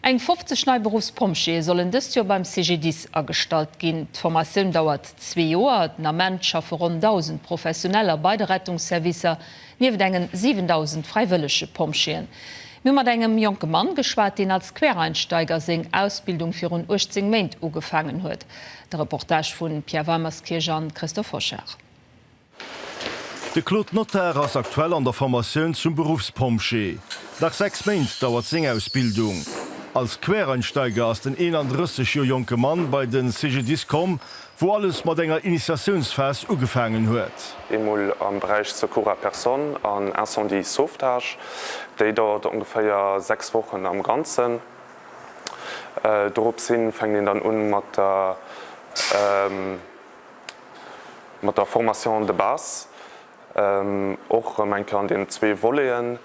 Eng 50 nei Beruffspompjeeë sollen dëst Joer beim CGDIS agestallt ginn. D'Formatioun dauert zwee Joer. Den Ament schaffe ronn 1.000 Professioneller bei de Rettungsservicer, nieft engen 7.000 fräiwëllege Pompjeeën. Mir hu mat engem jonke Mann geschwat, deen als Quereinsteiger seng Ausbildung virun 18 Méint ugefaangen huet. De Reportage vu Pierre Weimerskirch a Christophe Hochard. De Claude Notar ass aktuell an der Formatioun zum Beruffspompjee. Nach 6 Méint dauert seng Ausbildung. Als Quereinsteiger ass den 31 Joer jonke Mann bei de CGDIS komm, wou alles mat enger Initiatiounsphas ugefaangen huet. Eemol am Beräich Secours à personne an Incendie sauvetage. Déi dauert ongeféier 6 Wochen am Ganzen. Doropshin fänkt een dann un mat der. mat der Formation de base, och erëm eng Kéier an deenen zwee Voleten.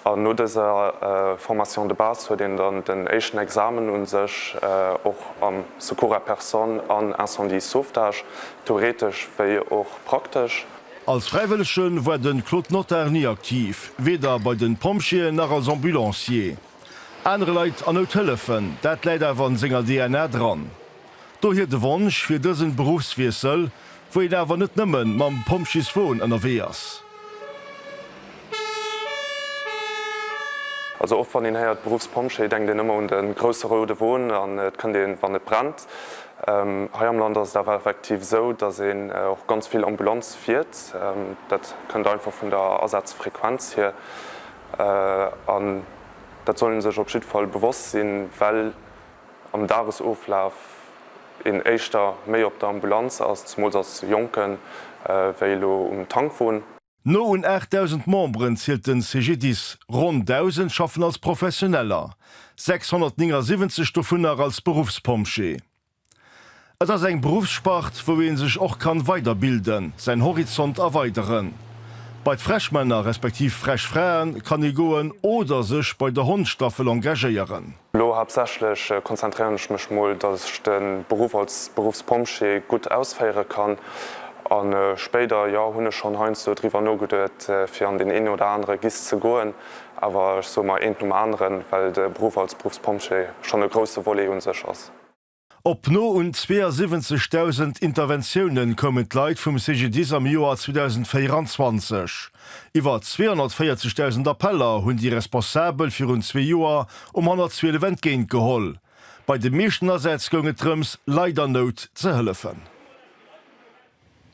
An no dëser Formation de base huet een dann den éischten Examen un sech, och am Secours à personne an Incendie sauvetage, theoretesch wéi och praktesch. Als Fräiwëllege war de Claude Notar ni aktiv, weder bei de Pompjeeën nach als Ambulancier. Anere Leit a Nout hëllefen, dat läit awer an senger DNA dran. Dohier de Wonsch fir dësen Beruffswiessel, wou een awer net nëmmen mam Pompjeeswon ënnerwee ass. Also oft wann een héiert Beruffspompjee, denkt een ëmmer un de grousse roude Won an et kënnt een wann et brennt. Hei am Land ass et awer effektiv esou, dass een och ganz vill Ambulanz fiert. Dat kënnt einfach vun der Asazfrequenz hier an dat soll ee sech op jiddfall bewosst sinn, well am Dagesoflaf een éischter méi op der Ambulanz ass, zemools als Jonken, wéi elo um Tankwon. No un 8.000 Memberen zielt de CGDIS. Ronn 1.000 schaffen als Professioneller, 679 dovunner als Beruffspompjee. Et ass eng Beruffsspart, wou ee sech och kann weiderbilden, säin Horizont erweideren. Bei d'Freshmänner respektiv Freshfraen kann ee goen oder sech bei der Hondstaffel engagéieren. Lo haaptsächlech konzentréieren ech mech mol, dass ech de Beruff als Beruffspompjee gutt ausféiere kann an spéider, jo, hunn ech schonn heiansdo driwwer nogeduet fir an deen een oder anere Gist ze goen, awer ech soe mer eent nom aneren, well de Beruff als Beruffspompjee schonn e grousse Volet un sech ass. Op no un 72.000 Interventiounen koumen d'Leit vum CGDIS am Joer 2024. Iwwer 240.000 Appeller hunn déi Responsabel virun zwee Joer um 112 entgéint geholl. Bei de meeschten Asätz goung et drëms, Leit an Nout ze hëllefen.